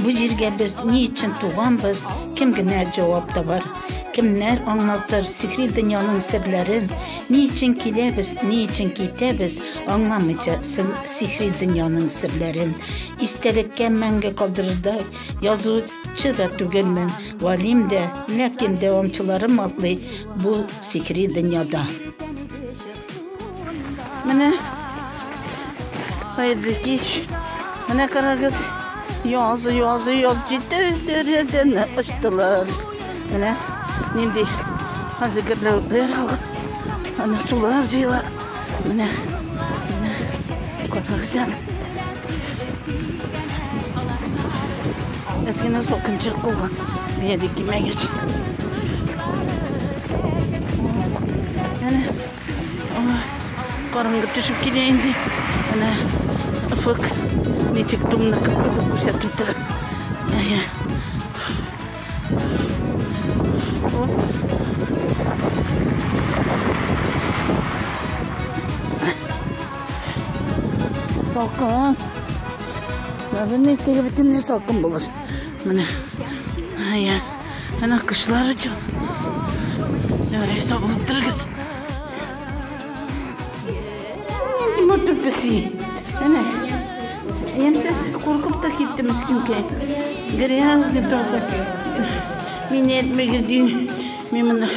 Бу җиргә без ни өчен туганбыз, кем генә җавап табар. Кемнәр аңлатыр сихри дөньяның серләрен, ни өчен киләбез, ни өчен китәбез, аңламыйча сын сихри дөньяның серләрен. Истәлеккә мәңге калдырырдай язучы да түгелмен, валим дә, ләкин дәвамчыларым атлый бу сихри дөньяда. Менә Хайырлы кич. Менә карагыз, яз, яз, яз җитте, дәрәзәне ачтылар. Менә нинди хәзер гөрләүләр алып, аны сулар җыела. Менә, менә, карагыз әле. Әзгенә сокынчык булган, бия бик кимәгәч. Аңа караңгы төшеп килә инде. Әнә офык ничек тумны кып-кызыл күрсәтеп тора. Әйе. Оп. Салкын. Наверное, иртәгә бөтенләй салкын булыр. Менә. Әйе. Әнә кошлар оча. Нәрәй сабылып торыгыз. Нинди матур песи. Әнә. Ямсыз куркып та китте мискинкәй. Грязный только. Мине әйтмәгез ди. Мин моны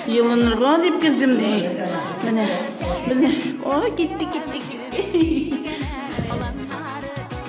елынырга дип килдем ди. Менә. Менә. Ой, китте, китте, китте.